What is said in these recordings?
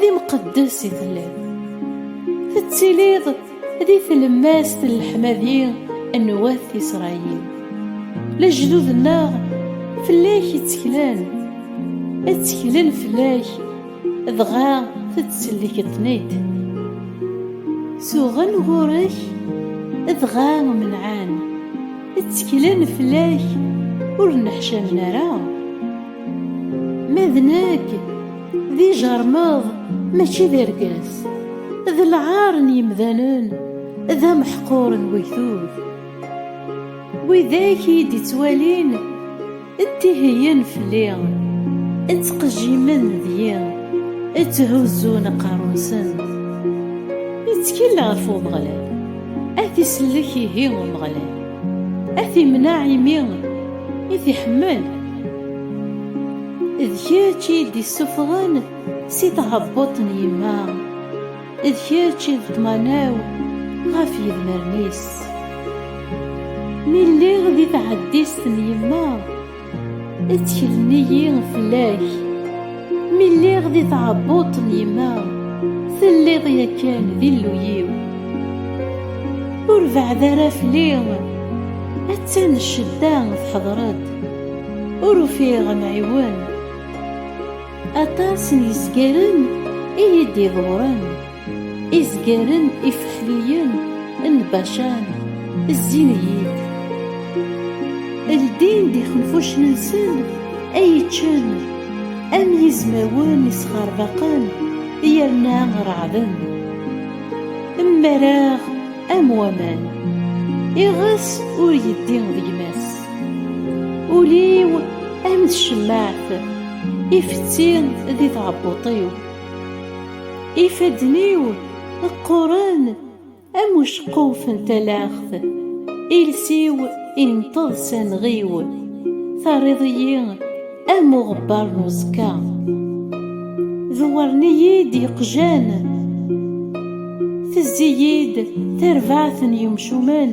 d imqeddes i telliḍ tettiliḍ di tlemmast n leḥmadi n wat Isṛayil lejdud-nneɣ fell-ak i tteklen tteklen fell-ak dɣa tettellikeḍ-ten-id suɣen ɣur-k dɣa menɛan tteklen fell-ak ur nneḥcamen ara ma d nekk d ijermeḍ mačči d irgaas d lɛar n yimdanen d ameḥqur n wegdud widak i d-ittwalin ttihiyen fell-i ttqejjimen deg-i tthuzzun aqerru-nsen ittkel ɣef Umeɣlal ad t-isellek ihi Umeɣlal ad t-imneɛ imi i t-iḥemmel D kečč i d-isuffɣen si tɛebbuṭ n yemma, d kečč i d ṭṭmana-w ɣef yedmaren-is. Mi lliɣ di tɛeddist n yemma, tteklen-iyi fell-ak, mi lliɣ di tɛebbuṭ n yemma, telliḍ yakan d Illu-iw. Ur beɛɛed ara fell-i, attan ccedda teḥḍer-d. Ur ufiɣ amɛiwen. Aṭas n yizgaren i yi-d-iḍewren, izgaren ifexliyen n Bacan zzin-iyi-d. Ldin-d ixenfucen-nsen ay iččen am yizmawen isxerbaqen yerna reɛden. Mmareɣ am waman, iɣes ur yeddi d gma-s. ul-iw am tcemmaɛt ifetti di tɛebbuṭ-iw ifadden-iw qquren am uceqquf n talaɣt iles-iw inṭeḍ s anɣiw terriḍ-iyi am uɣebbar n uẓekka dewwren-iyi-d yeqjan tezzi-yi-d tarbaɛt n yemcumen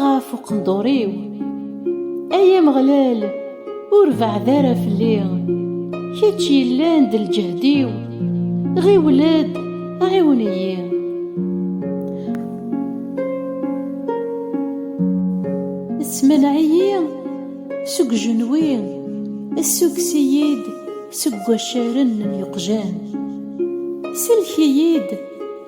ɣef uqendur-iw Ay Ameɣlal ur beɛɛed ara fell-i Kečč yellan d lǧehd-iw Ɣiwel-d ɛiwen-iyi Smaneɛ-iyi seg ujenwi Ssukkes-iyi-d seg waccaren n yeqjan Sellek-iyi-d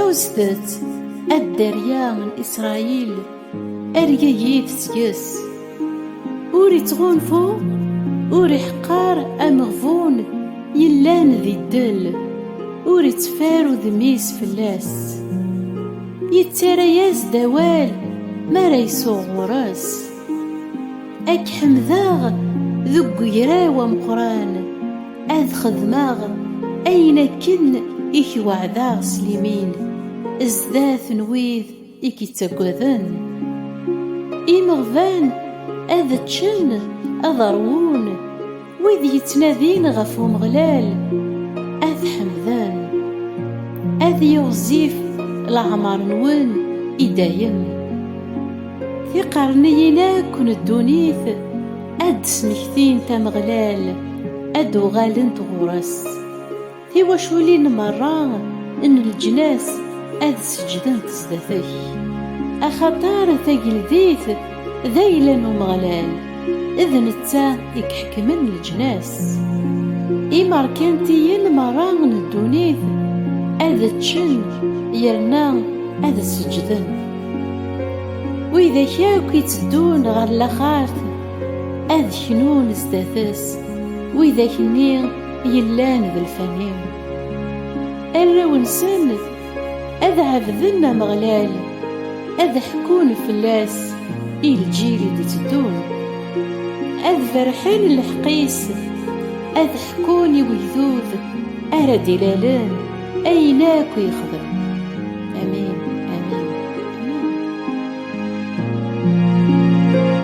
Ɛuztet, a dderya n Isṛayil, argagi tettges. Ur ittɣunfu, ur iḥeqqer ameɣbun yellan di ddel, ur itteffer udem-is fell-as. Yettarra-yas-d awal mi ara isuɣ ɣur-s. Ad k-ḥemdeɣ deg ugraw ameqqran, ad xedmeɣ ayen akken i k-weɛdeɣ s limin, zdat n wid i k-ittaggaden. Imeɣban ad ččen, ad ṛwun. Wid yettnadin ɣef Umeɣlal ad ḥemden, ad yiɣzif leɛmer-nwen i dayem. Tiqerniyin akk n ddunit ad d-smektint Ameɣlal, ad d-uɣalent ɣur-s. Tiwaculin merra n leǧnas ad seǧdent sdat-k, axaṭer tageldit d ayla n Umeɣlal, d netta i iḥekmen leǧnas. Imerkantiyen merra n ddunit ad ččen yerna ad seǧden. Widak akk itteddun ɣer laxert ad knun sdat-s, widak-nni yellan d lfani arraw-nsen ad ɛebden Ameɣlal ad ḥkun fell-as i lǧil i d-iteddun ad berrḥen lḥeqq-is ad ḥkun i wegdud ara d-ilalen ayen akk yexdem amin